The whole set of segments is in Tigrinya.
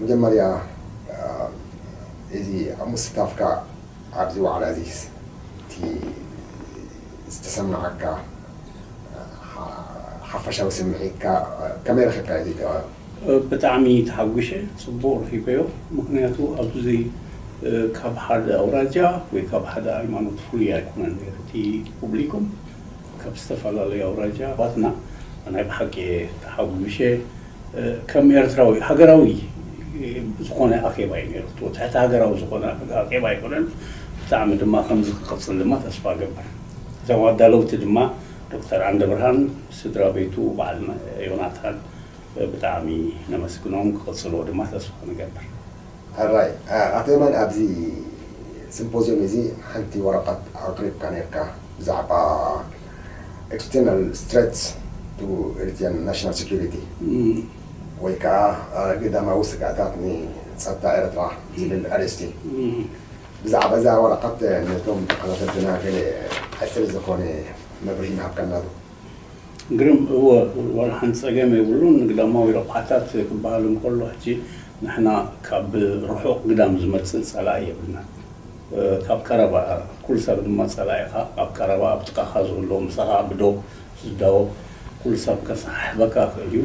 መጀመርያ እዚ ኣብ ምስታፍካ ኣብዚ ዋዕላ እዚስ እቲ ዝተሰመዓካ ሓፈሻዊ ስምዒትካ ከመይ ረኺብካዮ እዚ ተራ? ብጣዕሚ ተሓጒሸ ጽቡቕ ረኺበዮ ምኽንያቱ ኣብዚ ካብ ሓደ ኣውራጃ ወይ ካብ ሓደ ሃይማኖት ፍሉይ ኣይኮነን ኔሩ እቲ ፑብሊኩም ካብ ዝተፈላለዩ ኣውራጃ ኣሕዋትና ናይ ብሓቂ እየ ተሓጒሸ ከም ኤርትራዊ ሃገራዊ ዝኾነ ኣኼባ እዩ ነይሩ። እቲ ትሕቲ ሃገራዊ ዝኾነ ኣኼባ ኣይኮነን። ብጣዕሚ ድማ ከምዚ ክቕጽል ድማ ተስፋ እገብር። እዞም ኣዳለውቲ ድማ ዶክተር ዓንደብርሃን፣ ስድራ ቤቱ፣ በዓል ዮናታን ብጣዕሚ ነመስግኖም። ክቕጽልዎ ድማ ተስፋ ንገብር። ሕራይ ኣቶ የማነ ኣብዚ ስምፖዝዮም እዚ ሓንቲ ወረቀት ኣቅሪብካ ኔርካ ብዛዕባ ኤክስተርናል ስትረትስ ቱ ኤሪትሪያን ናሽናል ሰኩሪቲ ወይ ከኣ ግዳማዊ ስግኣታት ንጸጥታ ኤርትራ ዝብል ኣርእስቲ ብዛዕባ እዛ ወረቐት ነቶም ተኸታተልትና ገለ ኣጭር ዝኾነ መብርሂ ምሃብካና ዶ? ግርም እወ ዋላ ሓንቲ ጸገም የብሉን ግዳማዊ ረቑሓታት ክበሃል እንከሎ ሕጂ ንሕና ካብ ርሑቕ ግዳም ዝመጽእ ጸላኢ የብልናን። ካብ ቀረባ እያ ኩሉ ሰብ ድማ ጸላኢኻ ኣብ ቀረባ ኣብ ጥቃኻ ዝህሉ ምሳኻ ብዶብ ዝዳወብ ኩሉ ሰብ ከሰሓሕበካ ይኽእል እዩ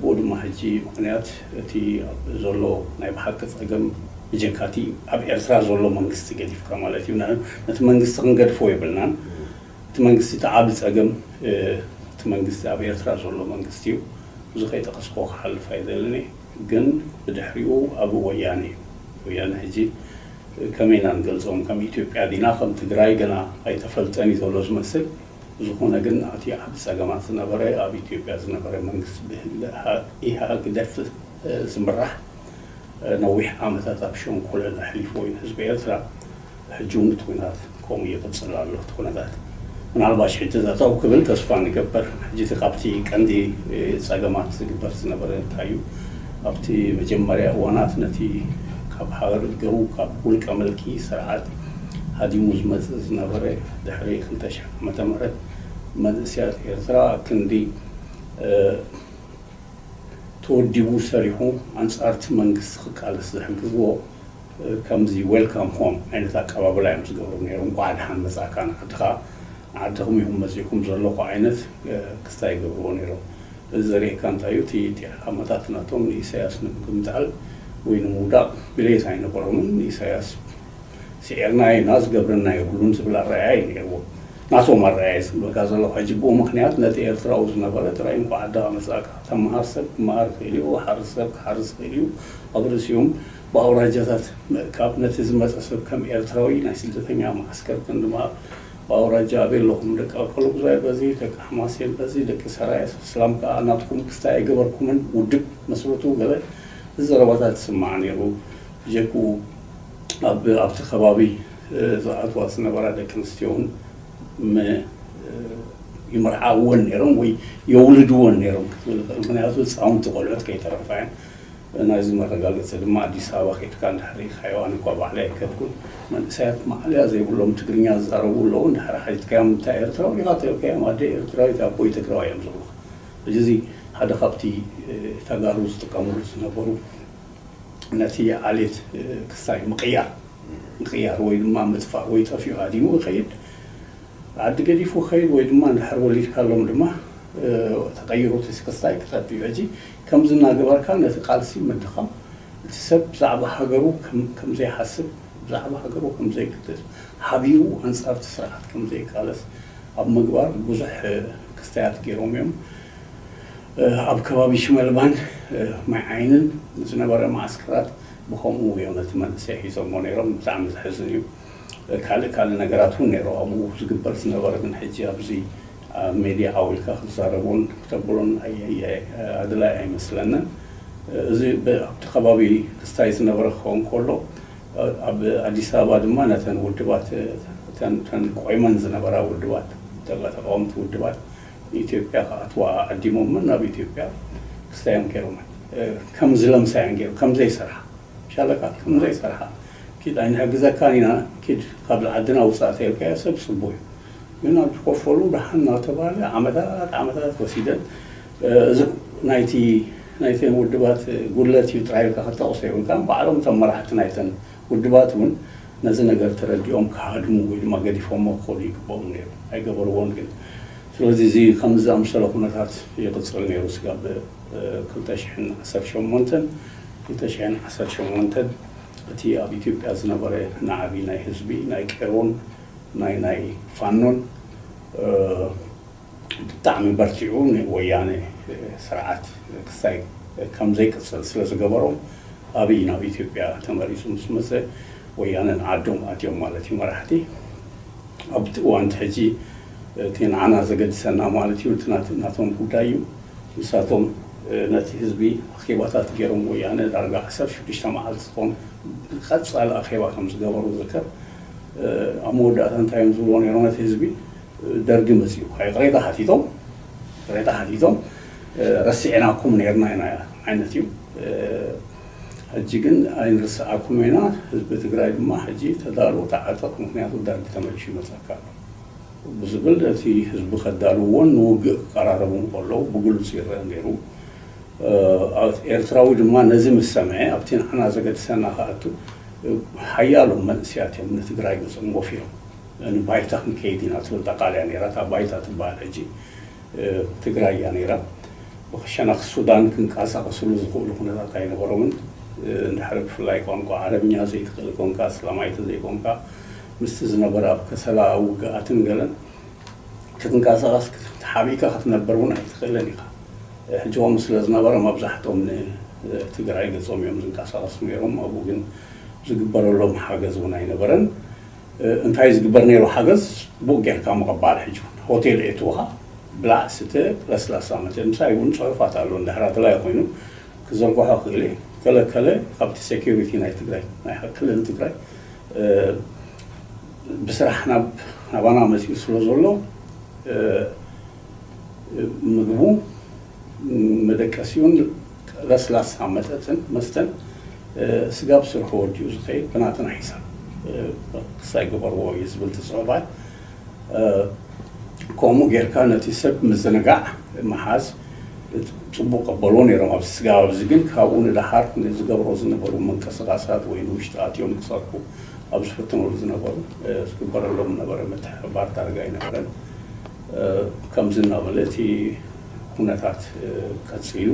ብኡ ድማ ሕጂ ምኽንያት እቲ ዘሎ ናይ ብሓቂ ጸገም ብጀካ እቲ ኣብ ኤርትራ ዘሎ መንግስቲ ገዲፍካ ማለት እዩ ነቲ መንግስቲ ክንገድፎ የብልናን እቲ መንግስቲ እቲ ዓቢ ጸገም እቲ መንግስቲ ኣብ ኤርትራ ዘሎ መንግስቲ እዩ እዚ ከይጠቀስክዎ ክሓልፍ ኣይደልን እየ። ግን ብድሕሪኡ ኣብ ወያነ እዩ ወያነ ሕጂ ከመይ ኢና ንገልጾም ከም ኢትዮጵያ ዲና ከም ትግራይ ገና ኣይተፈልጠን እዩ ዘሎ ዝመስል ብዝኾነ ግን ኣቲ ዓቢ ጸገማት ዝነበረ ኣብ ኢትዮጵያ ዝነበረ መንግስቲ ብህግደፍ ዝምራሕ ነዊሕ ዓመታት ኣብ ሸንኮለል ኣሕሊፍዎ እዩ ንህዝቢ ኤርትራ ሕጂ እውን እቲ ኩነታት ከምኡ ይቕጽል ኣሎ እቲ ኩነታት ምናልባሽ ሕጂ ጠጠው ክብል ተስፋ ንገበር ሕጂ እቲ ካብቲ ቀንዲ ጸገማት ዝግበር ዝነበረ እንታይ እዩ ኣብቲ መጀመርያ እዋናት ነቲ ካብ ሃረር ገቡ ካብ ውልቀ ምልኪ ስርዓት ሃዲሙ ዝመጽእ ዝነበረ ድሕሪ ክልተ ሽሕ ዓመተ ምህረት መንእሰያት ኤርትራ ክንዲ ተወዲቡ ሰሪሑ ኣንጻር እቲ መንግስቲ ክቃለስ ዝሕግዝዎ ከምዚ ዌልካም ሆም ዓይነት ኣቀባብላ እዮም ዝገብሩ ነይሮም፣ እንቋዕ ደሓን መጻእካ ንዓድኻ፣ ንዓድኹም ኢኹም መጺእኩም ዘለኹ ዓይነት ክስታይ ይገብርዎ ነይሮም። እዚ ዘርእየካ እንታይ እዩ፣ እቲ እቲ ዓላማታት ናቶም ንኢሳያስ ንምግምጣል ወይ ንምውዳቕ ድሌት ኣይነበሮምን፣ ንኢሳያስ ስዒርናዮ ኢና ዝገብረና የብሉን ዝብል ኣረኣእያ እዩ ነይርዎም። ናቶም ኣረኣእያ ዝብለካ ዘለኹ ሕጂ ብኡምኽንያት ነቲ ኤርትራዊ ዝነበረ ጥራይ እንቋዕ ደኣ መጻእካ፣ ተመሃር ሰብ ክመሃር ይኽእል እዩ፣ ሓርስ ሰብ ክሓርስ ይኽእል እዩ፣ ኣብ ርእሲኡም፣ ብኣውራጃታት ምእካብ፣ ነቲ ዝመጸ ሰብ ከም ኤርትራዊ ናይ ስደተኛ መዓስከር ክንዲ ምሃብ፣ ብኣውራጃ ኣበይ ኣለኹም ደቂ ኣከለጉዛይ በዚ፣ ደቂ ሓማሴን በዚ፣ ደቂ ሰራየ እስላም ከኣ ናትኩም ክስታይ ኣይገበርኩምን፣ ውድብ መስርቱ ገለ ዘረባታት ይስማዕ ነይሩ። ብጀክኡ ኣብ ኣብቲ ከባቢ ዝኣትዋ ዝነበራ ደቂ ኣንስትዮውን ም ይምርዓውወን ነይሮም ወይ የውልድወን ነይሮም ክትብል እኽእል። ምኽንያቱ ህጻውንቲ ቆልዑት ከይተረፋ እየን። ናይዚ መረጋገጺ ድማ ኣዲስ ኣበባ ከድካ እንድሕር ሪኢኻዮ፣ ኣነ እኳ ባዕለይ ኣይከድኩን፣ መንእሰያት ማእለያ ዘይብሎም ትግርኛ ዝዛረቡ ኣለዉ፣ እንድሕር ሓቲትካዮም እንታይ ኤርትራዊ ዲኻ ተብልካዮም ኣደይ ኤርትራዊት ኣቦይ ትግራዋይ እዮም ዝብሉኻ። ሕጂ እዚ ሓደ ካብቲ ተጋሩ ዝጥቀምሉ ዝነበሩ ነቲ ዓሌት ክስታይ ምቕያር ምቕያር ወይ ድማ ምጥፋእ ወይ ጠፊኡ ሃዲሙ ክኸይድ ዓዲ ገዲፉ ክኸይድ ወይ ድማ እንድሕር ወሊድካሎም ድማ ተቐይሩ እቲ ክስታይ ክጠፍእ እዩ። ሕጂ ከምዚ እናገበርካ ነቲ ቃልሲ ምድኻም፣ እቲ ሰብ ብዛዕባ ሃገሩ ከም ዘይሓስብ፣ ብዛዕባ ሃገሩ ከም ዘይግደስ፣ ሓቢኡ ኣንጻር እቲ ስርዓት ከም ዘይቃለስ ኣብ ምግባር ብዙሕ ክስታያት ገይሮም እዮም። ኣብ ከባቢ ሽመልባን ማይዓይንን ዝነበረ መዓስከራት ብኸምኡ እዮም ነቲ መንእሰይ ሒዞሞ ነይሮም። ብጣዕሚ ዘሕዝን እዩ። ካልእ ካልእ ነገራት እውን ነይሩ ኣብኡ ዝግበር ዝነበረ ግን ሕጂ ኣብዚ ኣብ ሜድያ ዓዊልካ ክትዛረቦን ክተብሎን ኣድላይ ኣይመስለንን። እዚ ኣብቲ ከባቢ ክስታይ ዝነበረ ክኸውን ከሎ ኣብ ኣዲስ ኣበባ ድማ ነተን ውድባት እተን ቆይመን ዝነበራ ውድባት ተላ ተቓወምቲ ውድባት ንኢትዮጵያ ክኣትዋ ዓዲሞመን ናብ ኢትዮጵያ ክስታየን ኬሮመን ከም ዝለምሳየን ጌሩ ከም ዘይሰርሓ ሻለቃ ከም ዘይሰርሓ ኪድ ኣይንሕግዘካን ኢና ኪድ ካብ ዓድና ውጻእ ተይልካዮ ሰብ ጽቡቕ እዩ ግን ኣብ ዝቆፈሩን ደሓን እናተባህለ ዓመታት ዓመታት ወሲደን እዚ ናይቲ ናይተን ውድባት ጉድለት እዩ ጥራይ ኢልካ ክትጠቕሶ የብልካን ባዕሎም እቶም መራሕቲ ናይተን ውድባት እውን ነዚ ነገር ተረዲኦም ክሃድሙ ወይ ድማ ገዲፎሞ ክኸዱ ይግበኦም ነይሩ ኣይገበርዎን ግን ስለዚ እዚ ከምዚ ዝኣምሰለ ኩነታት ይቕፅል ነይሩ ስጋብ ክልተ ሽሕን ዓሰርተ ሸሞንተን ክልተ ሽሕን ዓሰርተ ሸሞንተን እቲ ኣብ ኢትዮጵያ ዝነበረ ናዕቢ ናይ ህዝቢ ናይ ቄሮን ናይ ናይ ፋኖን ብጣዕሚ በርቲዑ ንወያነ ስርዓት ክሳይ ከም ዘይቅጽል ስለ ዝገበሮም ኣብይ ናብ ኢትዮጵያ ተመሊሱ ምስ መጸ ወያነ ንዓዶም ኣትዮም ማለት እዩ መራሕቲ ኣብቲ እዋን ሕጂ እቲ ንዓና ዘገድሰና ማለት እዩ እቲ ናቶም ጉዳይ እዩ ንሳቶም ነቲ ህዝቢ ኣኼባታት ገይሮም ወያነ ዳርጋ ዓሰርተ ሽዱሽተ መዓልቲ ዝኾን ቀጻሊ ኣኼባ ከም ዝገበሩ ዝከር ኣብ መወዳእታ እንታይ እዮም ዝብልዎ ነይሮም ነቲ ህዝቢ? ደርጊ መጺኡ እኳ ይቕሬታ ሓቲቶም ይቕሬታ ሓቲቶም ረሲዕናኩም ነይርና ኢና ዓይነት እዩ። ሕጂ ግን ኣይንርስዓኩምን ኢና፣ ህዝቢ ትግራይ ድማ ሕጂ ተዳሎ ተዓጠቕ ምኽንያቱ ደርጊ ተመሊሱ ይመጸካ ኣሎ ብዝብል እቲ ህዝቢ ከዳልውዎን ንውግእ ክቀራረቡን ከለዉ ብግሉጽ ይረኣ ነይሩ። ኤርትራዊ ድማ ነዚ ምስ ሰምዐ ኣብቲ ንዓና ዘገድሰና ክኣቱ ሓያሎ መንእሰያት እዮም ንትግራይ ገጾም ጎፊሮም ንባይታ ክንከይድ ኢና ትብል ጠቃልያ ነይራ እታ ባይታ ትበሃል ሕጂ ትግራይ እያ ነይራ ብክሸና ክሱዳን ክንቃሳቀስሉ ዝኽእሉ ኩነታት ኣይነበሮምን እንድሕሪ ብፍላይ ቋንቋ ዓረብኛ ዘይትኽእል ኮንካ ኣስላማይ ተዘይኮንካ ምስቲ ዝነበረ ኣብ ከሰላ ውግኣትን ገለን ክትንቀሳቐስ ተሓቢእካ ክትነብር እውን ኣይትኽእልን ኢኻ። ሕጂ ከምኡ ስለ ዝነበረ መብዛሕትኦም ንትግራይ ገፆም እዮም ዝንቀሳቐሱ ነይሮም። ኣብኡ ግን ዝግበረሎም ሓገዝ እውን ኣይነበረን። እንታይ እዩ ዝግበር ነይሩ ሓገዝ? ቡክ ጌርካ ምቕባል ሕጂ እውን። ሆቴል የእትዉኻ፣ ብላዕ ስተ፣ ለስላሳ መተ። ምሳይ እውን ፅሑፋት ኣሎ እንድሕር ኣድላዪ ኮይኑ ክዝርግሖ እኽእል እየ። ከለ ከለ ካብቲ ሴኩሪቲ ናይ ትግራይ ናይ ክልል ትግራይ ብስራሕ ናብ ኣባና መጺኡ ስለ ዘሎ ምግቡ መደቀሲኡን ለስላሳ መጠጥን መስተን ስጋብ ስርሑ ወዲኡ ዝኸይድ ብናትና ሒሳብ ክሳይ ግበርዎ እዩ ዝብል ትጽዕባይ ከምኡ ጌርካ ነቲ ሰብ ምዝንጋዕ ምሓዝ ጽቡቅ ቀበልዎ ነይሮም ኣብዚ ስጋብ ኣብዚ ግን ካብኡ ንደሓር ንዝገብሮ ዝነበሩ ምንቅስቃሳት ወይ ንውሽጢ ኣትዮም ክሰርሑ ኣብ ዝፍትኑሉ ዝነበሩ ዝግበረሎም ዝነበረ ምትሕብባር ዳርጋ ኣይነበረን። ከምዚ እናበለ እቲ ኩነታት ቀፂሉ።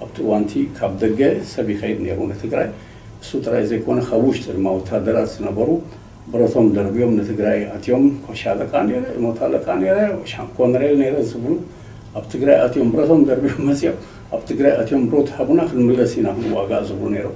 ኣብቲ እዋን እቲ ካብ ደገ ሰብ ይኸይድ ነይሩ ንትግራይ። እሱ ጥራይ ዘይኮነ ካብ ውሽጢ ድማ ወታደራት ዝነበሩ ብረቶም ደርብዮም ንትግራይ ኣትዮም ኮሻለቃ ነይረ፣ እሞታለቃ ነይረ፣ ሻም ኮነሬል ነይረ ዝብሉ ኣብ ትግራይ ኣትዮም ብረቶም ደርብዮም መፂኦም ኣብ ትግራይ ኣትዮም ብሮት ሃቡና ክንምለስ ኢና ክንዋጋእ ዝብሉ ነይሮም።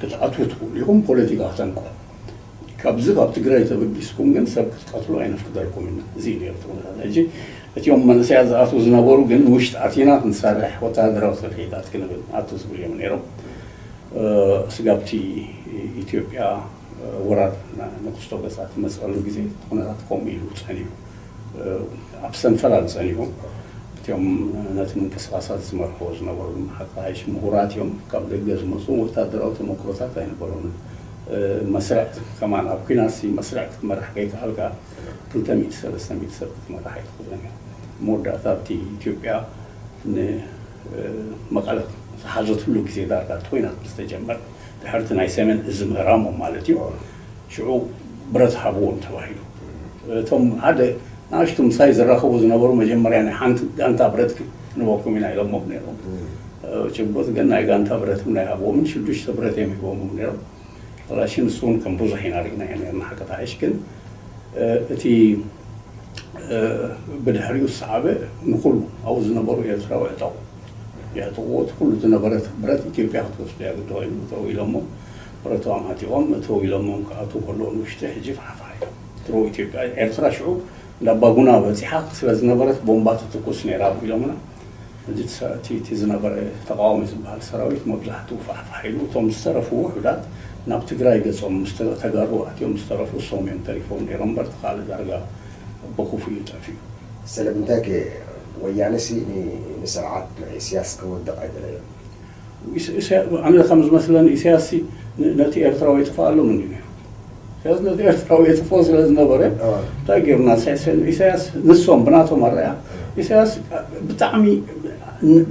ክትኣትዉ ትኽእሉ ኢኹም ፖለቲካ ክተንቅሑ ካብዚ ካብ ትግራይ ተበጊስኩም ግን ሰብ ክትቀትሉ ኣይነፍቅደልኩምን ኢና እዚ እዩ ነይሩ እቲ ኩነታት ሕጂ እቲኦም መንእሰያት ዝኣትዉ ዝነበሩ ግን ውሽጢ ኣቲና ክንሰርሕ ወተሃደራዊ ስርሒታት ክንብል ኣቱ ዝብሉ እዮም ነይሮም ስጋብቲ ኢትዮጵያ ወራር ንክስቶ ገጻ ትመጽኣሉ ግዜ እቲ ኩነታት ከምኡ ኢሉ ጸኒሑ ኣብ ሰንፈላል ጸኒሑ እትም ነቲ ምንቅስቓሳት ዝመርሕዎ ዝነበሩ ድማ ሓቅሊ ሃይሽ ምሁራት እዮም ካብ ደገ ዝመጹ ወታደራዊ ተመክሮታት ኣይነበሮምን መስርዕ ከማን ኣብ ኩናትሲ መስርዕ ክትመርሕ ከይከኣልካ ክልተ ሚእቲ ሰለስተ ሚእቲ ሰብ ክትመርሕ ኣይትኽእልን እያ መወዳእታ ኣብቲ ኢትዮጵያ ን መቐለ ዝሓዘትሉ ግዜ ዳርጋ እቲ ኩናት ምስ ተጀመረ ድሕርቲ ናይ ሰሜን እዚ ምህራሞም ማለት እዩ ሽዑ ብረት ሃብዎም ተባሂሉ። እቶም ሓደ ንኣሽቱ ምሳይ ዝራኸቡ ዝነበሩ መጀመርያ ናይ ሓንቲ ጋንታ ብረት ክንበኩም ኢና ኢሎሞም ነይሮም። ጭቡጥ ግን ናይ ጋንታ ብረት እውን ኣይሃብዎምን ሽዱሽተ ብረት እዮም ሂቦሞም ነይሮም። ካላሽን ንሱ እውን ከም ብዙሕ ኢና ርኢናዮ ነይርና ሓቂ ተሓይሽ ግን እቲ ብድሕሪኡ ዝሰዓበ ንኹሉ ኣብኡ ዝነበሩ ኤርትራዊ ዕጠቑ የዕጥቑዎ እቲ ኩሉ ዝነበረ ብረት ኢትዮጵያ ክትወስዶ እያ ግዲ ኮይኑ እተዉ ኢሎሞ ብረቱ ኣማቲቖም እተው ኢሎሞም ክኣትዉ ከለዉ ንውሽጢ ሕጂ ፋሕፋሕ ኢሎም ድሮ ኢትዮጵያ ኤርትራ ሽዑ እንዳ ኣባጉና በጺሓ ስለ ዝነበረት ቦምባ ትትኩስ ነይራ እኮ ኢሎምና ሕጂ እቲ እቲ ዝነበረ ተቓዋሚ ዝበሃል ሰራዊት መብዛሕትኡ ፋሕፋሕ ኢሉ እቶም ዝተረፉ ውሑዳት ናብ ትግራይ ገጾም ምስ ተጋሩ ኣትዮም ዝተረፉ እሶም እዮም ተሪፎም ነይሮም እምበር እቲ ካልእ ዳርጋ ብኹፉ እዩ ጠፊኡ። ስለምንታይ ከ ወያነሲ ንስርዓት ኢስያስ ከወድቕ ኣይደለዮን? ኣነ ከም ዝመስለኒ ኢሰያስሲ ነቲ ኤርትራዊ የጥፍኣሎም እንድዩ ነይሩ። ኢሰያስ ነቲ ኤርትራዊ የጥፍኦ ስለ ዝነበረ እንታይ ገይሩና ኢሰያስ ንሶም ብናቶም ኣረኣእያ ኢሰያስ ብጣዕሚ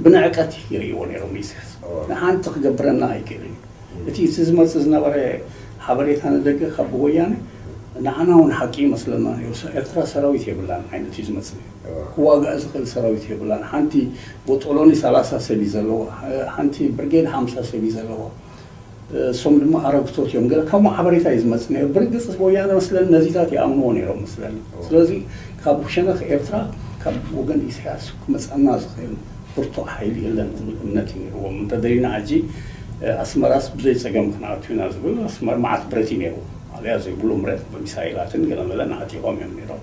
ብንዕቀት ይርእይዎ ነይሮም ኢሰያስ ንሓንቲ ክገብረና ኣይክእልን እዩ እቲ እቲ ዝመጽእ ዝነበረ ሓበሬታ ንደገ ካብ ወያነ ንዓና ውን ሓቂ ይመስለና ነይሩ ኤርትራ ሰራዊት የብላን ዓይነት እዩ ዝመጽእ ነይሩ። ክዋጋእ ዝኽእል ሰራዊት የብላን ሓንቲ ቦጦሎኒ ሰላሳ ሰብ እዩ ዘለዋ ሓንቲ ብርጌድ ሓምሳ ሰብ እዩ ዘለዋ እሶም ድማ ኣረግቶት እዮም ገለ ካብ ሓበሬታ እዩ ዝመጽእ ነይሩ ብርግጽ ወያነ መስለኒ ነዚታት ይኣምንዎ ነይሮም መስለኒ ስለዚ ካብ ሸነኽ ኤርትራ ካብ ወገን ኢሳያስ ክመጽኣና ዝኽእል ብርቱዕ ሓይሊ የለን ዝብል እምነት እዩ ነይርዎም እንተደሊና ሕጂ ኣስመራስ ብዘይ ጸገም ክንኣቱ ኢና ዝብል ኣስመራ መዓት ብረት እዩ ነይሩ ማእለያ ዘይብሉ ብረት ብሚሳይላትን ገለመለን ዓጢቖም እዮም ነይሮም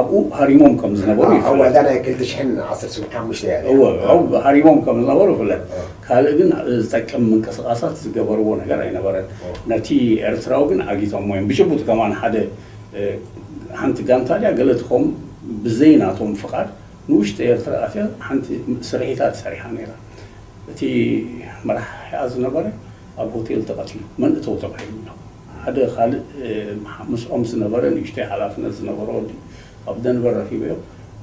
ኣብኡ ሃሪሞም ከም ዝነበሩ ይፍለጥ። ኣብ ዋጋ ናይ ክልተ ሽሕን ዓሰርተ ሓሙሽተ እያ ነይራ። እወ፣ ኣብኡ ሃሪሞም ከም ዝነበሩ ይፍለጥ። ካልእ ግን ዝጠቅም ምንቅስቓሳት ዝገበርዎ ነገር ኣይነበረን። ነቲ ኤርትራዊ ግን ዓጊቶሞ እዮም። ብጭቡጥ ከማን ሓደ ሓንቲ ጋንታ ድያ ገለ ትኸውን ብዘይ ናቶም ፍቓድ ንውሽጢ ኤርትራ ኣትያ ሓንቲ ስርሒታት ሰሪሓ ነይራ። እቲ መራሒኣ ዝነበረ ኣብ ሆቴል ተቐቲሉ። መን እተው ተባሂሉ ኣሎ። ሓደ ካልእ ምስኦም ዝነበረ ንእሽተይ ሓላፍነት ዝነበሮ ወዲ ኣብ ደንቨር ረኺበዮ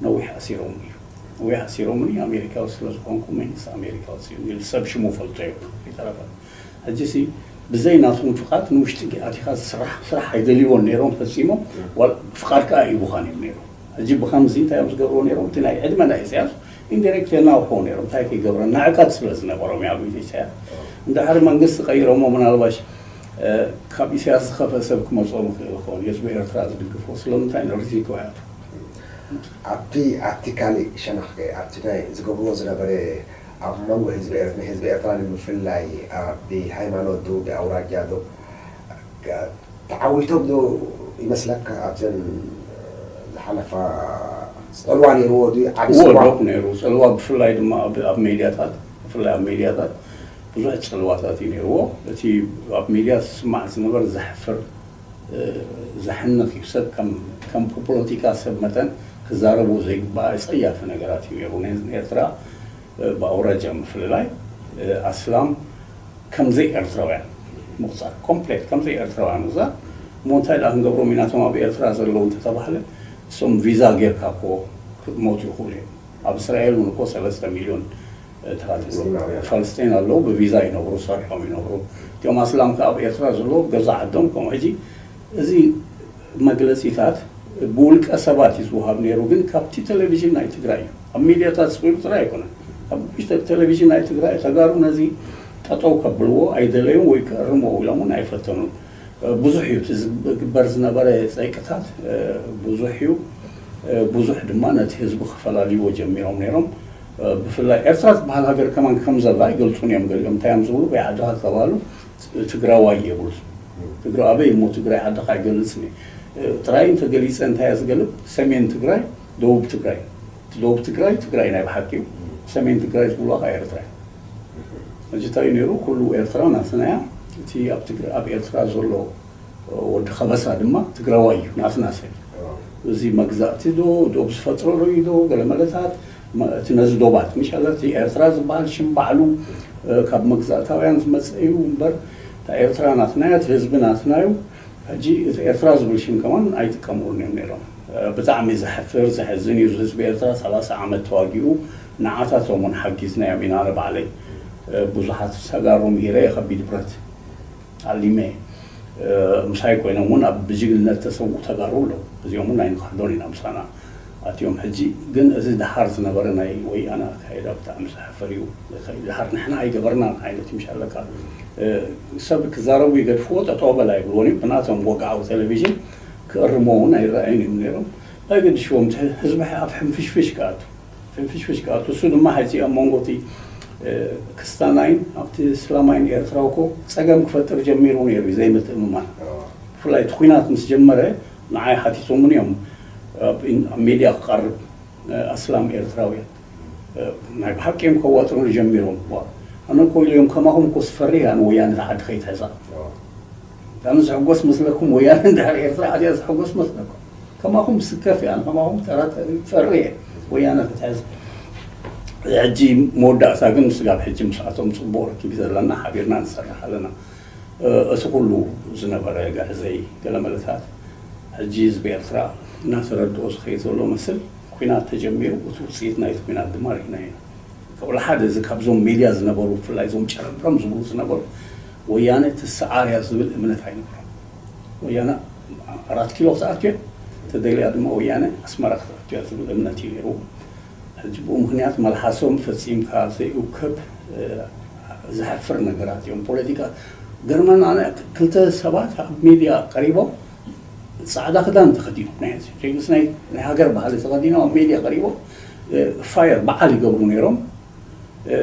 ነዊሕ ኣሲሮሙኒ እዩ ነዊሕ ኣሲሮሙኒ ኣሜሪካዊ ስለ ዝኾንኩ መንግስቲ ኣሜሪካ ኣውጺኡኒ እዩ ሰብ ሽሙ ፈልጦ እዩ ከይተረፈ ሕጂሲ ብዘይ ናቶም ፍቃድ ንውሽጢ ኣቲኻ ዝስራሕ ስራሕ ኣይደልይዎን ነይሮም ፈጺሞም ፍቃድ ከኣ ሂቡኻን እዮም ነይሮም ሕጂ ብኸምዚ እንታይ እዮም ዝገብርዎ ነይሮም እቲ ናይ ዕድመ ናይ ኢሰያስ ኢንዲሪክት ጀናል ክኮኑ ነይሮም እንታይ ክይገብረ ንዕቀት ስለ ዝነበሮም እያ ኣብ ኢዝ ኢሳያስ ንድሕሪ መንግስቲ ቀይሮሞ ምናልባሽ ካብ ኢሳያስ ዝከፈ ሰብ ክመጾም ይክእል ይኮን የስ ብኤርትራ ዝድግፎ ስለምንታይ ንርዚቱ ኣያቱ ኣብቲ ኣብቲ ካሊእ ሸነክ ከ ኣብቲ ናይ ዝገብርዎ ዝነበረ ኣብ መንጎ ህዝቢ ኤርት ንህዝቢ ኤርትራ ንምፍልላይ ብ ሃይማኖት ዶ ብ ኣውራጃ ዶ ተዓዊቶም ዶ ይመስለካ ኣብዘን ዝሓለፋ ጽልዋ ኔርዎ ድዩ ዓቢ ጽልዋ። እወ ዶክ ኔሩ ጽልዋ ብፍላይ ድማ ኣብ ኣብ ሜድያታት ብፍላይ ኣብ ሜድያታት ብዙሕ ጽልዋታት እዩ ኔርዎ እቲ ኣብ ሜድያ ዝስማዕ ዝነበረ ዘሕፍር ዘሕንኽ እዩ ሰብ ከም ከም ፖፖሎቲካ ሰብ መጠን ክዛረቦ ዘይግባኣ ኣጸያፊ ነገራት እዩ ኔሩ ን ኤርትራ ብኣውራጃ ምፍልላይ ኣስላም ከም ዘይ ኤርትራውያን ምቁጻር ኮምፕሌት ከም ዘይ ኤርትራውያን ምቁጻር እሞ እንታይ ድኣ ክንገብሮም ኢና እቶም ኣብ ኤርትራ ዘለዉ እንተ ተባህለ እሶም ቪዛ ጌርካ እኮ ክሞቱ ይኽእሉ እዮም ኣብ እስራኤል እውን እኮ ሰለስተ ሚልዮን እንታ ትብሎ ፋልስጤን ኣለዉ ብቪዛ ይነብሩ ሰሪሖም ይነብሩ እቶም ኣስላም ከ ኣብ ኤርትራ ዘለዉ ገዛ ዓዶም ከም ሕጂ እዚ መግለጺታት ብውልቀ ሰባት እዩ ዝወሃብ ነይሩ ግን ካብቲ ቴሌቪዥን ናይ ትግራይ እዩ ኣብ ሚድያታት ስቂሉ ጥራይ ኣይኮነን ኣብ ቴሌቪዥን ናይ ትግራይ ተጋሩ ነዚ ጠጠው ከብልዎ ኣይደለዩን ወይ ክእርምዎ ኢሎም እውን ኣይፈተኑን ብዙሕ እዩ እቲ ዝግበር ዝነበረ ጸይቅታት ብዙሕ እዩ ብዙሕ ድማ ነቲ ህዝቢ ክፈላልይዎ ጀሚሮም ነይሮም ብፍላይ ኤርትራ ትበሃል ሃገር ከማን ከም ዘላ ኣይገልጹን እዮም ገሊኦም እንታይ እዮም ዝብሉ በይዓድኻ ዝተባህሉ ትግራዋይ የብሉን ትግረ ኣበይ እሞ ትግራይ ዓድኻ ኣይገልፅን እየ ጥራይ እንተገሊፀ እንታይ እየ ዝገልፅ ሰሜን ትግራይ ደቡብ ትግራይ እቲ ደቡብ ትግራይ ትግራይ ናይ ብሓቂ እዩ ሰሜን ትግራይ ዝብሉዋ ከዓ ኤርትራ እዩ ሕጂ እንታይ እዩ ነይሩ ኩሉ ኤርትራ ናትና እያ እቲ ኣብ ትግራ ኣብ ኤርትራ ዘሎ ወዲ ከበሳ ድማ ትግራዋይ እዩ ናትና ሰብ እዩ እዚ መግዛእቲ ዶ ዶብ ዝፈጥሮ ዶ እዩ ዶ ገለመለታት እቲ ነዚ ዶባት ምሸላ እቲ ኤርትራ ዝበሃል ሽም ባዕሉ ካብ መግዛእታውያን ዝመጸ እዩ እምበር እታ ኤርትራ ናትና እያ እቲ ህዝቢ ናትና እዩ ሕጂ እቲ ኤርትራ ዝብል ሽም ከማን ኣይጥቀምሉን እዮም ኔሮም ብጣዕሚ ዘሕፍር ዘሕዝን እዩ ህዝቢ ኤርትራ ሰላሳ ዓመት ተዋጊኡ ንዓታቶም ውን ሓጊዝናዮም ኢና ኣነ ባዕለይ ብዙሓት ተጋሩ ምሂረ እየ ከቢድ ብረት ኣሊመ ምሳይ ኮይኖም ውን ኣብ ብጅግንነት ዝተሰውኡ ተጋሩ ኣለው እዚኦም ውን ኣይንክሕዶን ኢና ምሳና ኣትዮም ሕጂ ግን እዚ ድሓር ዝነበረ ናይ ወያነ ኣካይዳ ብጣዕሚ ዘሕፍር እዩ ድሓር ንሕና ኣይገበርናን ዓይነት እዩ ሻለቃ ሰብ ክዛረቡ ይገድፍዎ ጠጠው በል ኣይብልዎን እዩ ብናቶም ወግዓዊ ቴሌቪዥን ክእርምዎ ውን ኣይረኣዩን እዮም ኔሮም ኣየገድሽዎም እቲ ህዝቢ ኣፍ ሕንፍሽፍሽ ክኣቱ ፍንፍሽፍሽ ክኣቱ እሱ ድማ ሐዚ ኣብ መንጎ እቲ ክስታናይን ኣብቲ እስላማይን ኤርትራ እኮ ጸገም ክፈጥር ጀሚሩ ነይሩ እዩ ዘይምትእምማን ብፍላይ እቲ ኹናት ምስ ጀመረ ንዓይ ሓቲቶሙኒ እዮም ኣብ ሚድያ ክቀርብ ኣስላም ኤርትራውያን ናይ ብሓቂ እዮም ከዋጥሩኒ ጀሚሮም ዋእ ኣነ እኮ ኢለዮም ከማኹም እኮ ስፈርየ ኣነ ወያነ እዛ ዓዲ ከይትሕዛ። ኣነ ዝሕጎስ መስለኩም ወያነ እንድሕር ኤርትራ ኣትያ ዝሕጎስ መስለኩም ከማኹም ምስከፍ እየ ኣነ ከማኹም ተራተሪ ጸሪ እየ ወያነ ክትሕዝ ሕጂ መወዳእታ ግን ስጋብ ሕጂ ምስኣቶም ጽቡቕ ርክብ ዘለና ሓቢርና ንሰርሕ ኣለና እቲ ኩሉ ዝነበረ ግዕዘይ ገለመለታት ሕጂ ህዝቢ ኤርትራ እናተረድኦ ዝኸይድ ዘሎ መስል ኩናት ተጀሚሩ እቲ ውጽኢት ናይቲ ኩናት ድማ ርኢናዮ ኢና ፍቕሪ ሓደ እዚ ካብዞም ሜድያ ዝነበሩ ብፍላይ እዞም ጨረምረም ዝብሉ ዝነበሩ ወያነ ትስዓር እያ ዝብል እምነት ኣይነበሮም። ወያነ ኣራት ኪሎ ክትኣቱ እያ፣ ተደልያ ድማ ወያነ ኣስመራ ክትኣቱ እያ ዝብል እምነት እዩ ነይርዎም። ሕጂ ብኡ ምኽንያት መልሓሶም ፈጺምካ ዘይኡከብ ዘሕፍር ነገራት እዮም። ፖለቲካ ገርመን ኣነ ክልተ ሰባት ኣብ ሜድያ ቀሪቦም ጻዕዳ ክዳን ተኸዲኖም ናይ ህዝቢ ምስ ናይ ሃገር ባህሊ ተኸዲኖም ኣብ ሜድያ ቀሪቦም ፋየር በዓል ይገብሩ ነይሮም።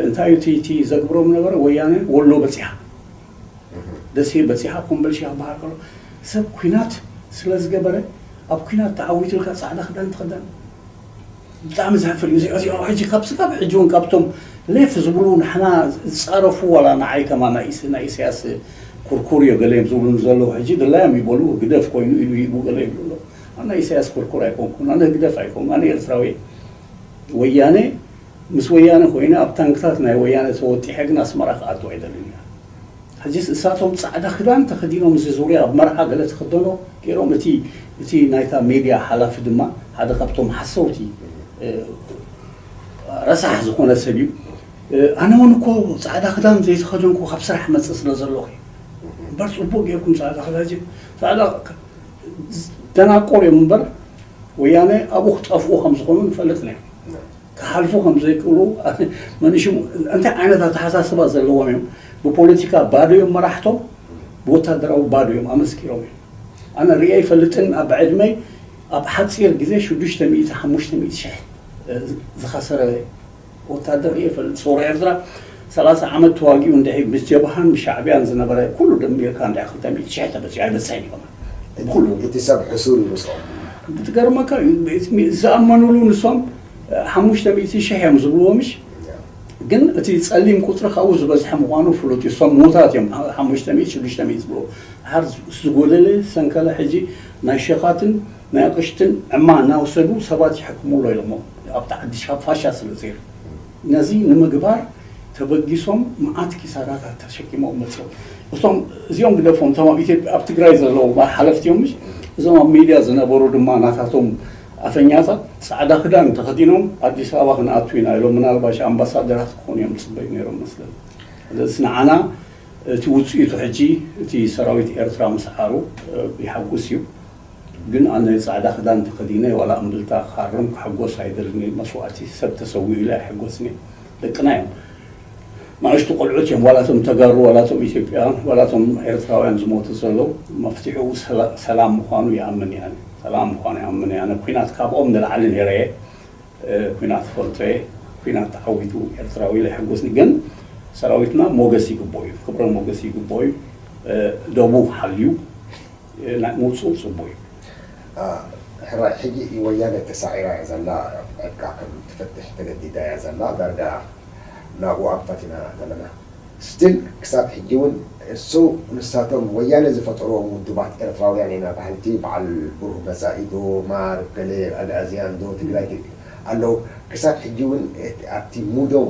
እንታይ እዩ እቲ እቲ ዘግብሮም ነበረ ወያነ ወሎ በጺሓ ደሴ በጺሓ ኮምበልሻ ክበሃል ከሎ ሰብ ኩናት ስለ ዝገበረ ኣብ ኩናት ተዓዊቱ ኢልካ ጻዕዳ ክዳን ትኽደን ብጣዕሚ ዘሕፍር እዩ እዚኦ እዚኦ ሕጂ ካብ ስጋብ ሕጂ ውን ካብቶም ሌፍ ዝብሉ ንሕና ዝጻረፉ ዋላ ንዓይ ከማ ናይ ኢስ ናይ ኢሰያስ ኩርኩርዮ ገለ እዮም ዝብሉኒ ዘለዉ ሕጂ ድላዮም ይበሉ ህግደፍ ኮይኑ ኢሉ ሂቡ ገለ ይብሉ ኣለዉ ኣነ ናይ ኢሰያስ ኩርኩር ኣይኮንኩን ኣነ ህግደፍ ኣይኮንኩን ኣነ ኤርትራዊ እየ ወያነ ምስ ወያነ ኮይነ ኣብ ታንክታት ናይ ወያነ ተወጢሐ ግን ኣስመራ ክኣቱ ኣይደልን እየ ሕጂስ እሳቶም ጻዕዳ ክዳን ተኸዲኖም እዚ ዙርያ ኣብ መርዓ ገለ ትኽደኖ ጌሮም እቲ እቲ ናይታ ሜድያ ሓላፊ ድማ ሓደ ካብቶም ሓሰውቲ ረሳሕ ዝኾነ ሰብ እዩ ኣነ ውን እኮ ጻዕዳ ክዳን ዘይተኸደንኩ ካብ ስራሕ መጽእ ስለ ዘለኹ እዩ እምበር ጽቡቅ ጌርኩም ጻዕዳ ክዳን ጻዕዳ ደናቆር እዮም እምበር ወያነ ኣብኡ ክጠፍኡ ከም ዝኾኑ ንፈልጥ ኔርና ክሓልፉ ከም ዘይክእሉ መን ሽሙ እንታይ ዓይነት ኣተሓሳስባ ዘለዎም እዮም ብፖለቲካ ባዶ እዮም መራሕቶም ብወታደራዊ ባዶ እዮም ኣመስኪሮም እዮም ኣነ ሪኤ ኣይፈልጥን ኣብ ዕድመይ ኣብ ሓፂር ግዜ ሽዱሽተ ሚእቲ ሓሙሽተ ሚእቲ ሽሕ ዝኸሰረ ወታደር ሪኤ ይፈልጥ ሰውራ ኤርትራ ሰላሳ ዓመት ተዋጊኡ እንድዒ ምስ ጀብሃን ምስ ሻዕብያን ዝነበረ ኩሉ ደሚርካ እንድዒ ክልተ ሚእቲ ሽሕ ተበጺሑ ኣይበጽሕን እዩ ከማን ብኩሉ። እቲ ሰብ ሕሱር እዩ ምስኦም። ዝገርመካ እዩ ዝኣመኑሉ ንሶም ሓሙሽተ ሚእቲ ሽሕ እዮም ዝብልዎ ምሽ ግን እቲ ጸሊም ቁጽሪ ካብኡ ዝበዝሐ ምኳኑ ፍሉጥ እዩ ሶም ምዉታት እዮም ሓሙሽተ ሚእቲ ሽዱሽተ ሚእቲ ዝብልዎ ድሓር ዝጎደለ ሰንከለ ሕጂ ናይ ሸኻትን ናይ ኣቅሽትን ዕማ እናወሰዱ ሰባት ይሕክሙ ኣሎ ኢሎሞ ኣብቲ ዓዲ ካብ ፋሻ ስለ ዘይሩ ነዚ ንምግባር ተበጊሶም መዓት ኪሳራታት ተሸኪሞም መጽዮም። እቶም እዚኦም ግደፎም እቶም ኣብ ኢትዮጵያ ኣብ ትግራይ ዘለዉ እባ ሓለፍቲ እዮም ምሽ እዞም ኣብ ሜድያ ዝነበሩ ድማ ናታቶም ኣፈኛታት ጻዕዳ ክዳን ተኸዲኖም ኣዲስ ኣበባ ክንኣቱ ኢና ኢሎም ምናልባሽ ኣምባሳደራት ክኾኑ እዮም ዝጽበዩ ነይሮም መስለኒ። ስለዝስ ንዓና እቲ ውጽኢቱ ሕጂ እቲ ሰራዊት ኤርትራ ምስዓሩ የሓጉስ እዩ። ግን ኣነ ጻዕዳ ክዳን ተከዲነ ዋላ እምብልታ ክሃርም ክሕጎስ ኣይደልን እየ መስዋእቲ ሰብ ተሰዊኡ ኢለ ኣይሕጎስን እየ ደቅና እዮም ናእሽቱ ቆልዑት እዮም ዋላ እቶም ተጋሩ ዋላ እቶም ኢትዮጵያውያን ዋላ እቶም ኤርትራውያን ዝሞቱ ዘለው መፍትሕኡ ሰላም ምኳኑ ይኣምን እየ ኣነ ሰላም ምኳኑ ይኣምን እየ ኣነ ኩናት ካብኦም ንላዕሊ ነይረ እየ ኩናት ፈልጦ እየ ኩናት ተዓዊቱ ኤርትራዊ ኢለ ኣይሕጎስን ግን ሰራዊትና ሞገስ ይግብኦ እዩ ክብረ ሞገስ ይግብኦ እዩ ደቡ ሓልዩ ምውጽኡ ጽቡቅ እዩ። ሕራይ ሕጂ ወያነ ተሳዒራ እያ ዘላ ዕጥቃ ከም ትፈትሕ ተገዲዳ እያ ዘላ ዳርጋ ናብኡ ኣንፈትና ዘለና። Still ክሳብ ሕጂ ውን እሱ ንሳቶም ወያነ ዝፈጠርዎም ውዱባት ኤርትራውያን ኢና በሃልቲ በዓል ብሩህ መጻኢ ዶ ማር ገለ ኣግኣዝያን ዶ ትግራይ ኣለዉ ክሳብ ሕጂ ውን ኣብቲ ሙዶም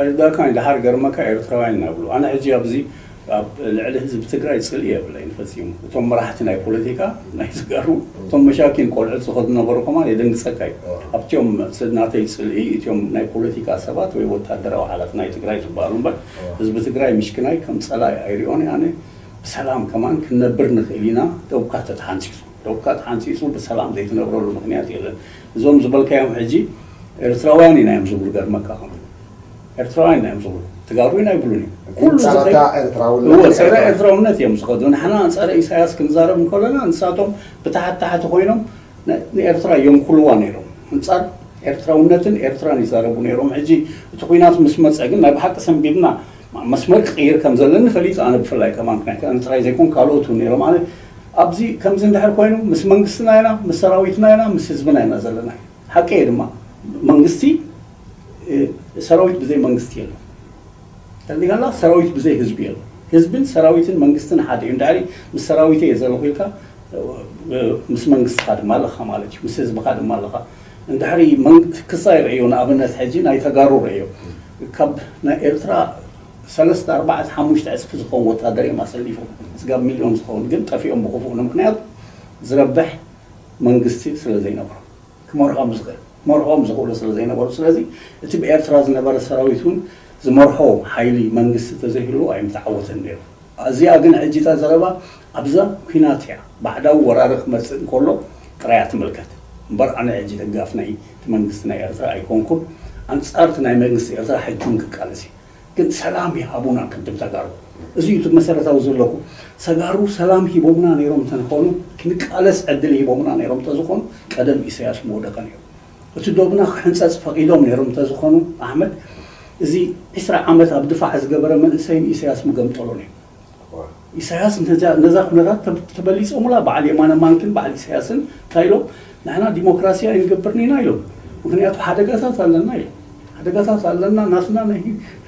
ኣይርዳእካን ደሓር ገርመካ ኤርትራውያን ኢና ብሉ ኣነ ሕጂ ኣብዚ ኣብ ልዕሊ ህዝቢ ትግራይ ጽልኢ የብለይን ፈጺሙ እቶም መራሕቲ ናይ ፖለቲካ ናይ ተጋሩ እቶም መሻኪን ቆልዑት ዝኸዱ ነበሩ ከማን የደንግጸካ እዩ ኣብቲኦም ናተይ ጽልኢ እቲኦም ናይ ፖለቲካ ሰባት ወይ ወታደራዊ ሓላፍ ናይ ትግራይ ዝበሃሉ እምበር ህዝቢ ትግራይ ምሽክናይ ከም ጸላኢ ኣይሪኦን እየ ኣነ ብሰላም ከማን ክንነብር ንኽእል ኢና ዶብካ ተተሓንጺጹ ዶብካ ተሓንጺጹ ብሰላም ዘይትነብረሉ ምኽንያት የለን እዞም ዝበልካዮም ሕጂ ኤርትራውያን ኢና እዮም ዝብሉ ገርመካ ከሎ ኤርትራውያን ኢና እዮም ዝብሉ ትጋሩ ኢና ይብሉን እዮም ኩሉ ዝኸይድ ፀረ ኤርትራውነት እዮም ዝኸዱ ንሕና ፀረ ኢሳያስ ክንዛረብ እንከለና ንሳቶም ብታሕቲ ታሕቲ ኮይኖም ንኤርትራ የንኩልዋ ነይሮም ኣንፃር ኤርትራውነትን ኤርትራን ይዛረቡ ነይሮም ሕጂ እቲ ኩናት ምስ መፀ ግን ናይ ብሓቂ ሰንቢድና መስመር ክቕይር ከም ዘለኒ ፈሊጡ ኣነ ብፍላይ ከማን ናይ ጥራይ ዘይኮን ካልኦት እውን ነይሮም ኣነ ኣብዚ ከምዚ እንድሕር ኮይኑ ምስ መንግስትና ኢና ምስ ሰራዊትና ኢና ምስ ህዝብና ኢና ዘለና ሓቀይ ድማ መንግስቲ ሰራዊት ብዘይ መንግስቲ የለን ተርዲናላ ሰራዊት ብዘይ ህዝቢ የለን ህዝብን ሰራዊትን መንግስትን ሓደ እዩ እንድሕሪ ምስ ሰራዊተይ እየ ዘለኹ ኢልካ ምስ መንግስትኻ ድማ ኣለኻ ማለት እዩ ምስ ህዝብኻ ድማ ኣለኻ እንድሕሪ ክሳ ይርእዮ ንኣብነት ሕጂ ናይ ተጋሩ ርእዮ ካብ ናይ ኤርትራ ሰለስተ ኣርባዕተ ሓሙሽተ ዕጽፊ ዝኸውን ወታደር እዮም ኣሰሊፎም ስጋብ ሚልዮን ዝኸውን ግን ጠፊኦም ብኹፉእ ንምክንያቱ ዝረብሕ መንግስቲ ስለ ዘይነበሮም። ክመርሖም ዝኽእል ክመርሖም ዝኽእሉ ስለ ዘይነበሩ ስለዚ እቲ ብኤርትራ ዝነበረ ሰራዊት ውን ዝመርሖ ሓይሊ መንግስቲ ተዘይህልዎ ኣይምተዓወተን ኔሩ ኣዚኣ ግን ሕጂ እታ ዘረባ ኣብዛ ኩናት እያ ባዕዳዊ ወራሪ ክመጽእ እንከሎ ጥራይ እያ ትምልከት እምበር ኣነ ሕጂ ደጋፍ ናይ እቲ መንግስቲ ናይ ኤርትራ ኣይኮንኩን ኣንጻር እቲ ናይ መንግስቲ ኤርትራ ሕጂ ውን ክቃለስ እየ። ግን ሰላም ይሃቡና ቅድም ተጋሩ እዚ እዩ እቲ መሰረታዊ ዘለኹ ተጋሩ ሰላም ሂቦምና ነይሮም እንተንኾኑ ክንቃለስ ዕድል ሂቦምና ነይሮም እንተዝኾኑ ቀደም ኢሰያስ ምወደቀ ነይሩ እቲ ዶብና ክሕንጸጽ ፈቂዶም ነይሮም እንተዝኾኑ ኣሕመድ እዚ ዕስራ ዓመት ኣብ ድፋዕ ዝገበረ መንእሰይን ኢሰያስ ምገምጠሎ ነይሩ። ኢሳያስ ነዛ ኩነታት ተበሊጾሙላ በዓል የማነ ማንኪን በዓል ኢሳያስን እንታይ ኢሎም ንሕና ዲሞክራሲ ኣይንገብርን ኢና ኢሎም ምኽንያቱ ሓደጋታት ኣለና ኢሎም ሓደጋታት ኣለና ናትና ናይ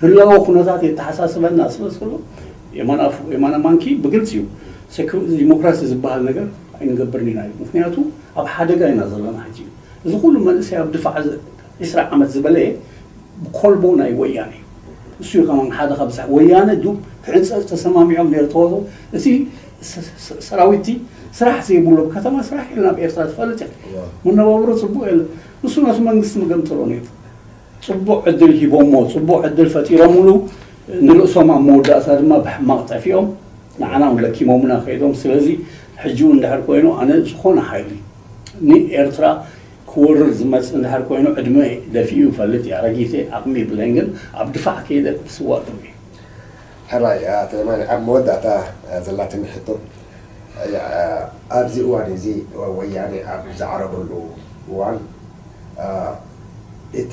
ህላወ ኩነታት የተሓሳስበና ስለ ዘሎ የማነ ማንኪ ብግልጺ እዩ ዲሞክራሲ ዝበሃል ነገር ኣይንገብርን ኢና ኢሎም ምኽንያቱ ኣብ ሓደጋ ኢና ዘለና ሕጂ እዚ ኩሉ መንእሰይ ኣብ ድፋዕ ዕስራ ዓመት ዝበለየ ኮልቦ ናይ ወያነ እዩ እሱ እዩ ከማን ሓደ ካብ ዝሓ ወያነ ዱብ ክዕንጸጽ ተሰማሚዖም ነይሩ ተወሩ እቲ ሰራዊቲ ስራሕ ዘይብሉ ኣብ ከተማ ስራሕ የለን ኣብ ኤርትራ ትፈልጥ እያ መነባብሮ ጽቡቅ የለን ንሱ ነቲ መንግስቲ መገምጥሎ ነይሩ ጽቡቅ ዕድል ሂቦሞ ጽቡቅ ዕድል ፈጢሮምሉ ንርእሶም ኣብ መወዳእታ ድማ ብሕማቅ ጠፊኦም ንዓና ውን ለኪሞምና ከይዶም ስለዚ ሕጂ ውን ድሕር ኮይኑ ኣነ ዝኾነ ሓይሊ ንኤርትራ ክወርር ዝመጽእ እንድሕር ኮይኑ ዕድመይ ደፊኡ ይፈልጥ እዩ ኣረጊት እየ ዓቅሚ የብለይን ግን ኣብ ድፋዕ ከይደ ክስዋእ ጥሙይ እየ። ሕራይ ኣቶ የማነ ኣብ መወዳእታ ዘላትኒ ሕቶ ኣብዚ እዋን እዚ ወያኔ ኣብ ዝዓረበሉ እዋን እቲ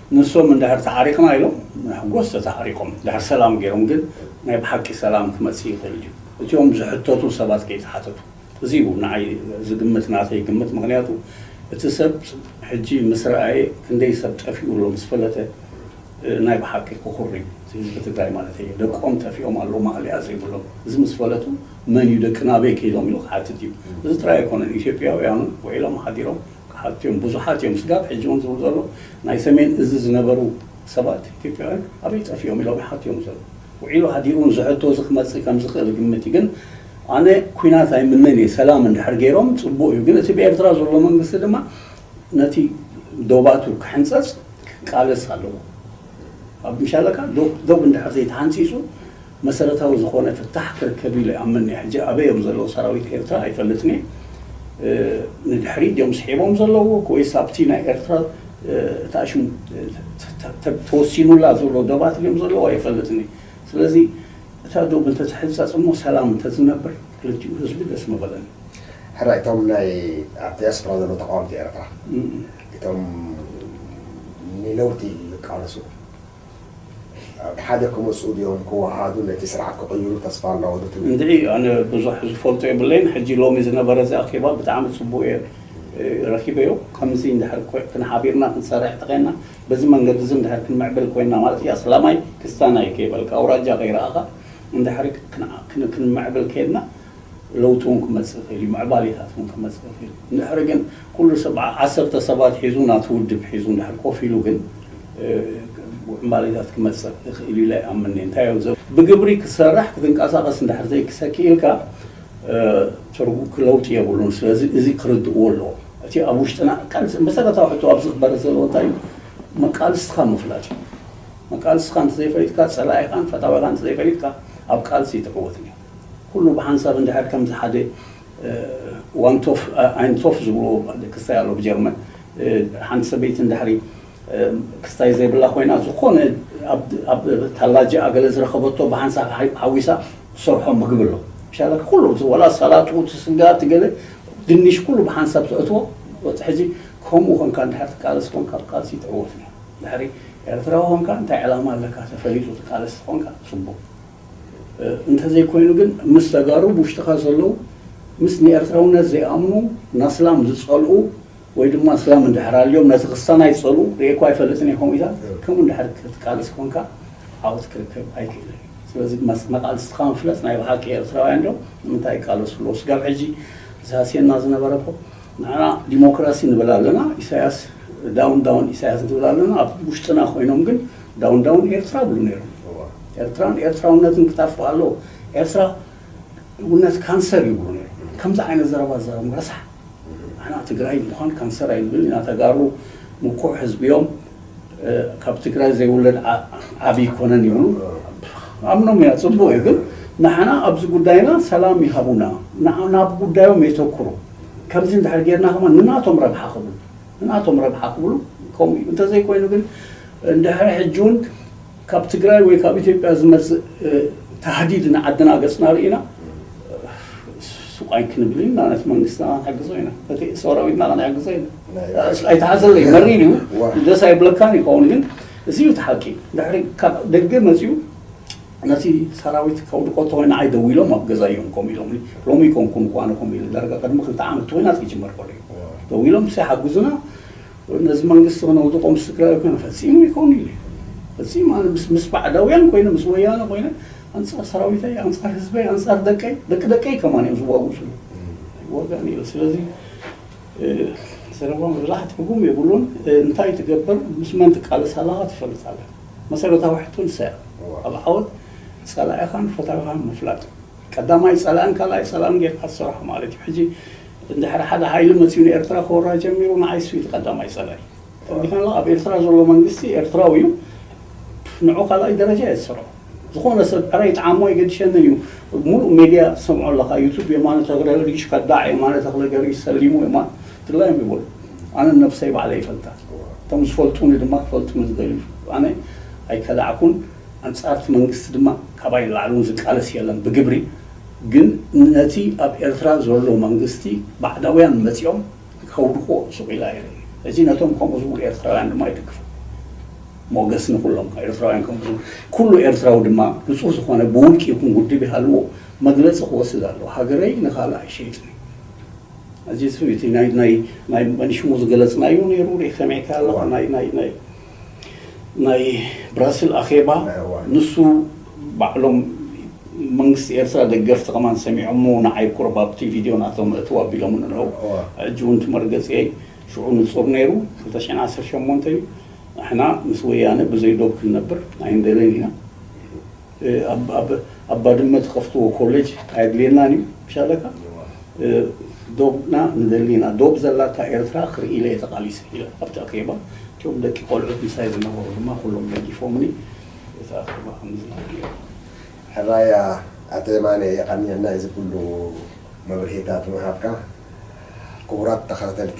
ንሶም እንድሕር ተዓሪቅና ኢሎም መሕጎስ ተተዓሪቆም ድሕር ሰላም ገይሮም ግን ናይ ብሓቂ ሰላም ክመጽእ ይክእል ድዩ እቲኦም ዝሕተቱ ሰባት ከይተሓተቱ እዚ እዩ ንዓይ ዝግምት ናተይ ግምት ምክንያቱ እቲ ሰብ ሕጂ ምስ ረኣየ ክንደይ ሰብ ጠፊኡ ኣሎ ምስ ፈለጠ ናይ ብሓቂ ክኩሪ እዩ እቲ ህዝቢ ትግራይ ማለተይ እዩ ደቆም ጠፊኦም ኣለዉ ማእለያ ዘይብሎም እዚ ምስ ፈለጡ መን እዩ ደቅና ኣበይ ከይዶም ኢሉ ክሓትት እዩ እዚ ጥራይ ኣይኮነን ኢትዮጵያውያኑ ውዒሎም ሓዲሮም ሓቲዮም ብዙሓት እዮም ስጋብ ሕጂ እውን ዝብሉ ዘለዉ ናይ ሰሜን እዝ ዝነበሩ ሰባት ኢትዮጵያውያን ኣበይ ጠፊኦም ኢሎም ይሓቱ እዮም ዘለዉ ውዒሉ ሃዲሩ እውን እዚ ሕቶ እዚ ክመፅእ ከም ዝኽእል ግምት እዩ ግን ኣነ ኩናት ኣይምነን እየ ሰላም እንድሕር ገይሮም ፅቡቅ እዩ ግን እቲ ብኤርትራ ዘሎ መንግስቲ ድማ ነቲ ዶባቱ ክሕንፀፅ ክቃለስ ኣለዎ ኣብ ምሻለካ ዶብ እንድሕር ዘይተሓንፂፁ መሰረታዊ ዝኾነ ፍታሕ ክርከብ ኢለ ይኣምን እየ ሕጂ ኣበይ እዮም ዘለዉ ሰራዊት ኤርትራ ኣይፈልጥን እየ ንድሕሪት ድዮም ስሒቦም ዘለዉ ወይስ ኣብቲ ናይ ኤርትራ እታ ሽም ተወሲኑላ ዘሎ ዶባት ድዮም ዘለዉ ኣይፈልጥን እየ ስለዚ እታ ዶብ እንተ ትሕጸጽ እሞ ሰላም እንተ ዝነብር ክልቲኡ ህዝቢ ደስ ምበለኒ። ሕራይ እቶም ናይ ኣብ ዲያስፖራ ዘለዉ ተቃወምቲ ኤርትራ እቶም ንለውጢ ዝቃለሱ፣ ሓደ ክመጹ ድዮም ክወሃሃዱ ነቲ ስርዓት ክቕይሩ ተስፋ ኣሎ ዶ ትብል? እንድዒ ኣነ ብዙሕ ዝፈልጦ የብለይን ሕጂ ሎሚ ዝነበረ እዚ ኣኼባ ብጣዕሚ ጽቡቕ እየ ረኺበዮ ከምዚ እንድሕር ኮን ሓቢርና ክንሰርሕ ተዄንና በዚ መንገዲ እዚ እንድሕር ክንምዕብል ኮንና ማለት እዩ ኣስላማይ ክስታናይ ከይበልካ ኣውራጃ ከይረኣኻ እንድሕር ክንምዕብል ኴንና ለውጢውን ክመጽእ ይኽእል እዩ፣ ምዕባሌታት እውን ክመጽእ ይኽእል እዩ። እንድሕሪ ግን ኩሉ ሰብ ዓሰርተ ሰባት ሒዙ ናቱ ውድብ ሒዙ እንድሕር ኮፍ ኢሉ ግን ዕምባሌታት ክመጽእ ይኽእል እዩ ኢለ ኣይኣምንን እየ። እንታይ እዩ ዘ ብግብሪ ክትሰርሕ ክትንቀሳቐስ እንድሕር ዘይክሰ ክኢልካ ትርጉ ለውጢ የብሉን። ስለዚ እዚ ክርድእዎ ኣለዎም። እቲ ኣብ ውሽጥና ቃልሲ መሰረታዊ ሕቶ ኣብዚ ክበርህ ዘለዎ እንታይ እዩ መቃልስትኻ ምፍላጥ እዩ። መቃልስትኻ እንተዘይፈሊጥካ ጸላኢኻን ፈታዊኻን እንተዘይፈሊጥካ ኣብ ቃልሲ ኣይትዕወትን ኢኻ። ኩሉ ብሓንሳብ እንድሕር ከምዚ ሓደ ዋንቶፍ ኣይንቶፍ ዝብልዎ ክስታይ ኣሎ ብጀርመን ሓንቲ ሰበይቲ እንድሕሪ ክስታይ ዘይብላ ኮይና ዝኾነ ኣብ ታላጅኣ ገለ ዝረኸበቶ ብሓንሳብ ሓዊሳ ትሰርሖ ምግቢ ኣሎ ሻላኪ ኩሉ ወላ ሰላጡ እቲ ስጋ እቲ ገለ ድንሽ ኩሉ ብሓንሳብ ተእትዎ ሕጂ ከምኡ ኮንካ እንድሕር ትቃለስ ኮንካ ኣብ ቃልሲ ትዕወት ኢኻ ድሕሪ ኤርትራዊ ኮንካ እንታይ ዕላማ ኣለካ ተፈሊጡ ትቃለስ ተኾንካ ጽቡቕ እንተዘይኮይኑ ግን ምስ ተጋሩ ብውሽጥኻ ዘለው ምስ ንኤርትራውነት ዘይኣምኑ ናስላም ዝጸልኡ ወይ ድማ እስላም እንድሕር ኣልዮም ነቲ ክስታናይ ዝጸልኡ ርእየኳ ኣይፈልጥን እየ ከምኡ ኢላ ከምኡ እንድሕር ክትቃልስ ኮንካ ዓወት ክርከብ ኣይክእልን እዩ ስለዚ መቃልስትካ ምፍለጥ ናይ ብሓቂ ኤርትራውያን ዶ ንምንታይ ይቃለሱ ኣለዉ ስጋብ ሕጂ ዝሃስየና ዝነበረ እኮ ንሕና ዲሞክራሲ ንብል ኣለና ኢሳያስ ዳውን ዳውን ኢሳያስ ንብል ኣለና ኣብ ውሽጥና ኮይኖም ግን ዳውን ዳውን ኤርትራ ይብሉ ነይሮም ኤርትራን ኤርትራውነትን ክጠፍእ ኣለዎ ኤርትራ ውነት ካንሰር ይብሉ ነይሮም ከምዚ ዓይነት ዘረባ ዘረም ረሳሕ ንሕና ትግራይ ምዃን ካንሰር ኣይንብል ኢና ተጋሩ ምኩሕ ህዝቢ እዮም ካብ ትግራይ ዘይውለድ ዓቢ ኣይኮነን ኢሉ ኣምኖም ኢና ጽቡቅ እዩ ግን ንዓና ኣብዚ ጉዳይና ሰላም ይሃቡና ናብ ጉዳዮም የተኩሩ ከምዚ እንድሕር ጌርና ከማ ንናቶም ረብሓ ክብሉ ንናቶም ረብሓ ክብሉ ከምኡ እዩ እንተዘይኮይኑ ግን እንድሕር ሕጂ እውን ካብ ትግራይ ወይ ካብ ኢትዮጵያ ዝመጽእ ታህዲድ ንዓድና ገጽና ርኢና ሱቕ ኣይክንብል ኢና ነቲ መንግስትና ክንሕግዞ ኢና ነቲ ሰራዊትና ክንሕግዞ ኢና ኣይትሓዘለይ መሪር እዩ ደስ ኣይብለካን ይኸውን ግን እዚ እዩ እቲ ሓቂ ድሕሪ ካብ ደገ መፅኡ ነቲ ሰራዊት ከውድቆ ተኮይና ዓይ ደው ኢሎም ኣብ ገዛ እዮም ኮም ኢሎም ሎሚ ኮንኩም እኳ ንኮም ኢሉ ዳርጋ ቅድሚ ክልተ ዓመት ተኮይናት ክጅመር ከሎ እዩ ደው ኢሎም ሲ ሓግዙና ነዚ መንግስቲ ክነውድቆ ምስ ትግራይ ኮይና ፈጺሙ ኣይኮኑን ኢለ ፈጺሙ ኣነ ምስ ምስ ባዕዳውያን ኮይነ ምስ ወያነ ኮይነ ኣንጻር ሰራዊተይ ኣንጻር ህዝበይ ኣንጻር ደቀይ ደቂ ደቀይ ከማን እዮም ዝዋግኡ ስሉ ኣይዋጋእን ኢለ ስለዚ ዘረባ ምብላሕ ትርጉም የብሉን እንታይ ትገብር ምስ መን ትቃለስ ኣለኻ ትፈልጥ ኣለ መሰረታዊ ሕቶ ንሳያ ኣብ ዓወት ጸላኢኻን ፈታዊኻን ምፍላጥ ቀዳማይ ጸላእን ካልኣይ ጸላእን ጌርካ ትሰርሖ ማለት እዩ ሕጂ እንድሕር ሓደ ሃይሊ መጺኡ ንኤርትራ ክወራ ጀሚሩ ንዓይስ እቲ ቀዳማይ ጸላኢ ተወዲሑ ኣሎ ኣብ ኤርትራ ዘሎ መንግስቲ ኤርትራዊ እዩ ንዑ ካልኣይ ደረጃ እየ ዝሰርዖ ዝኾነ ሰብ ዕረ ይጥዓሞ ኣይገድሸንን እዩ ሙሉእ ሜድያ ትሰምዖ ኣለኻ ዩቱብ የማነ ተኽለ ሪሽ ከዳዕ የማነ ተኽለ ገሪ ሰሊሙ የማ ትግራይ እዮም ይበሉ ኣነ ነብሰይ ባዕለ ይፈልጣ እቶም ዝፈልጡኒ ድማ ክፈልጡኒ ዝደልዩ ኣነ ኣይከዳዕኩን ኣንጻርቲ መንግስቲ ድማ ካባይ ንላዕሊ እውን ዝቃለስ የለን ብግብሪ ግን ነቲ ኣብ ኤርትራ ዘሎ መንግስቲ ባዕዳውያን መጺኦም ከውድቅዎ ሱቅ ኢለ ኣይርእይ እዚ ነቶም ከምኡ ዝብሉ ኤርትራውያን ድማ ይድግፎ ሞገስ ንኩሎም ኤርትራውያን ከምኡ ዝብሉ ኩሉ ኤርትራዊ ድማ ንጹህ ዝኮነ ብውልቂ ይኩን ውድብ ይሃልዎ መግለጺ ክወስድ ኣለዎ ሃገረይ ንካልእ ኣይሸይጥን እዚ ናይ ናይ ናይ መንሽሙ ዝገለጽናዮ ኔሩ ሪእ ሰሚዕካዮ ኣለካ ናይ ናይ ናይ ናይ ብራስል ኣኼባ ንሱ ባዕሎም መንግስቲ ኤርትራ ደገፍቲ ከማን ሰሚዖሞ ንዓይ ቁሩብ ኣብቲ ቪድዮ ናቶም እትው ኣቢሎምኒ ኣለዉ ሕጂ ውን እቲ መርገጺየይ ሽዑ ንጹር ነይሩ ክልተ ሽሕን ዓሰርተ ሸሞንተን እዩ ንሕና ምስ ወያነ ብዘይ ዶብ ክንነብር ኣይንደልን ኢና ኣብ ባድመ ትኸፍትዎ ኮለጅ ኣየድልየናን እዩ ምሻ ኣለካ ዶብና ንደሊ ኢና ዶብ ዘላታ ኤርትራ ክርኢ ኢለ እየ ተቓሊሰ ኢለ ኣብቲ ኣኼባ እቶም ደቂ ቆልዑት ምሳይ ዝነበሩ ድማ ኩሎም ደጊፎምኒ እቲ ኣኼባ ከምዚ ነይሩ ሕራያ ኣቶ የማነ የቀንየልና ኢዚ ኩሉ መብርሂታት ምሃብካ ክቡራት ተኻተልቲ